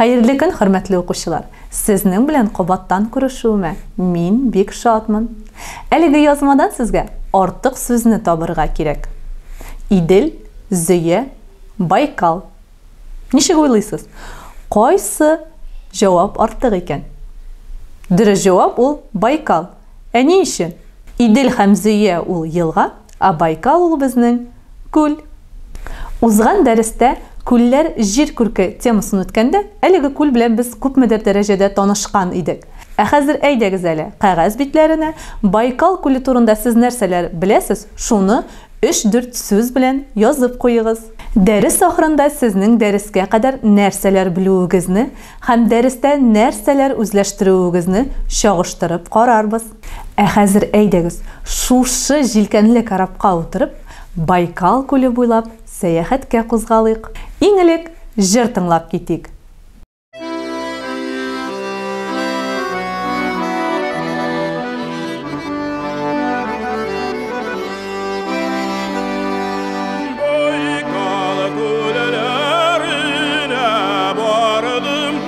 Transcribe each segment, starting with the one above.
Хәерле көн, хөрмәтле укучылар! Сезнең белән кабаттан күрешүемә мин бик шатмын. Әлеге язмадан сезгә артык сүзне табырга кирәк. Идел, Зөя, Байкал. Ничек уйлыйсыз, кайсы җавап артык икән? Дөрес җавап ул, Байкал. Ә ни өчен? Идел һәм Зөя ул елга. Ә Байкал ул безнең күл. Узган дәрестә Күлләр җир күрке темасын үткәндә, әлеге күл белән без күпмедер дәрәҗәдә танышкан идек. Ә хәзер әйдәгез әле, кәгазь битләренә Байкал күле турында сез нәрсәләр беләсез, шуны өч-дүрт сүз белән язып куегыз. Дәрес ахырында сезнең дәрескә кадәр нәрсәләр белүегезне һәм дәрестә нәрсәләр үзләштерүегезне чагыштырып карарбыз. Ә хәзер әйдәгез, шушы җилкәнле корабка утырып, Байкал күле буйлап сәяхәткә кузгалыйк. Иң элек җыр тыңлап китик.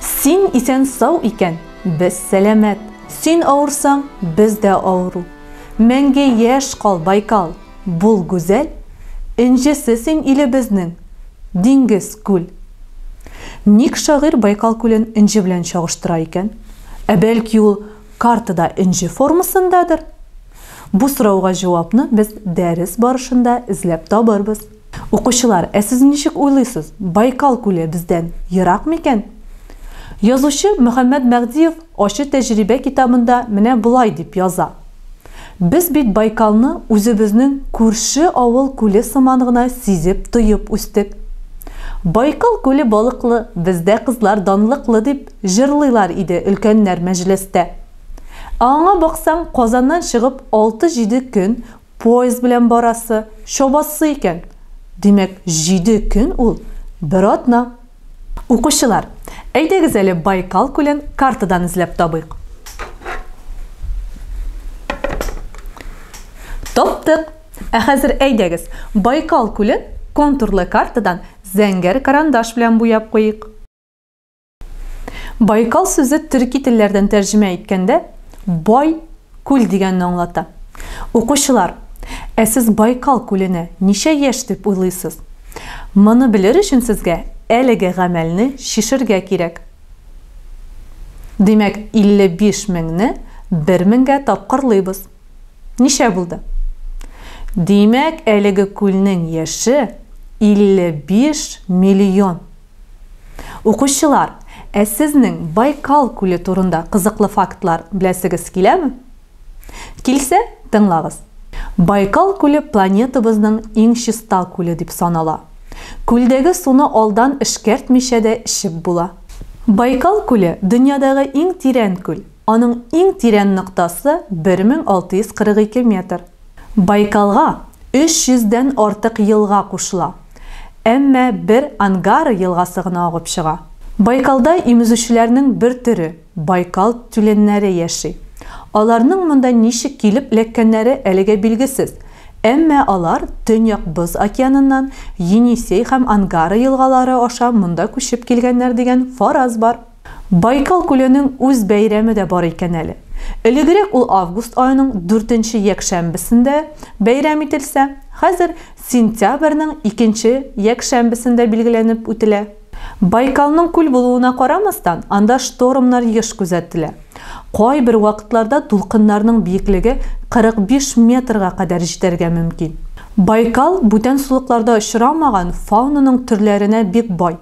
Син исән сау икән, без сәламәт. Син авырсаң, без дә авыру. Мәңге яшь кал, Байкал, бул гүзәл. Энҗесе син илебезнең, диңгез, күл. Ник шагыйрь Байкал күлен энҗе белән чагыштыра икән? Ә бәлки ул картада энҗе формасындадыр? Бу сорауга җавапны без дәрес барышында эзләп табырбыз. Укучылар, ә сез ничек уйлыйсыз, Байкал күле бездән ерак микән? Язучы Мөхәммәт Мәгъдиев Ачы тәҗрибә китабында менә болай дип яза, Без бит Байкалны үзебезнең күрше авыл күле сыман гына сизеп, тоеп үстек. Байкал күле балыклы, бездә кызлар данлыклы, дип җырлыйлар иде өлкәннәр мәҗлестә. Ә аңа баксаң, Казаннан чыгып, алты-җиде көн Поезд белән барасы, чабасы икән. Димәк, җиде көн ул, бер атна. Укучылар, әйдәгез әле Байкал күлен картадан эзләп табыйк. Таптык! Ә хәзер әйдәгез, Байкал күлен контурлы картадан зәңгәр карандаш белән буяп куйыйк. Байкал сүзе төрки телләрдән тәрҗемә иткәндә бай күл дигәнне аңлата. Укучылар, ә сез Байкал күленә ничә яшь дип уйлыйсыз? Моны белер өчен сезгә әлеге гамәлне чишергә кирәк. Димәк, 55 меңне 1 меңгә тапкырлыйбыз. Ничә булды? Димәк, әлеге күлнең яше 55 миллион. Укучылар, ә сезнең Байкал күле турында кызыклы фактлар беләсегез киләме? Килсә, тыңлагыз. Байкал күле планетабызның иң чиста күле дип санала. Күлдәге суны алдан эшкәртмичә дә эчеп була. Байкал күле, дөньядагы иң тирән күл. Аның иң тирән ноктасы 1642 метр. Байкалга 300 дән артык елга кушыла, әмма бер Ангара елгасы гына агып чыга. Байкалда имезүчеләрнең бер төре, байкал тюленнәре яши. Аларның монда ничек килеп эләккәннәре әлегә билгесез, әмма алар Төньяк Боз океаныннан Енисей һәм Ангара елгалары аша монда күчеп килгәннәр дигән фараз бар. Байкал күленең үз бәйрәме дә бар икән әле. Элегрәк ул август аеның дүртенче якшәмбесендә бәйрәм ителсә, хәзер сентябрьнең икенче якшәмбесендә билгеләнеп үтелә. Байкалның күл булуына карамастан, анда штормнар еш күзәтелә. Кайбер вакытларда дулкыннарның биеклеге 45 метрга кадәр җитәргә мөмкин. Байкал бүтән сулыкларда очрамаган фаунаның төрләренә бик бай.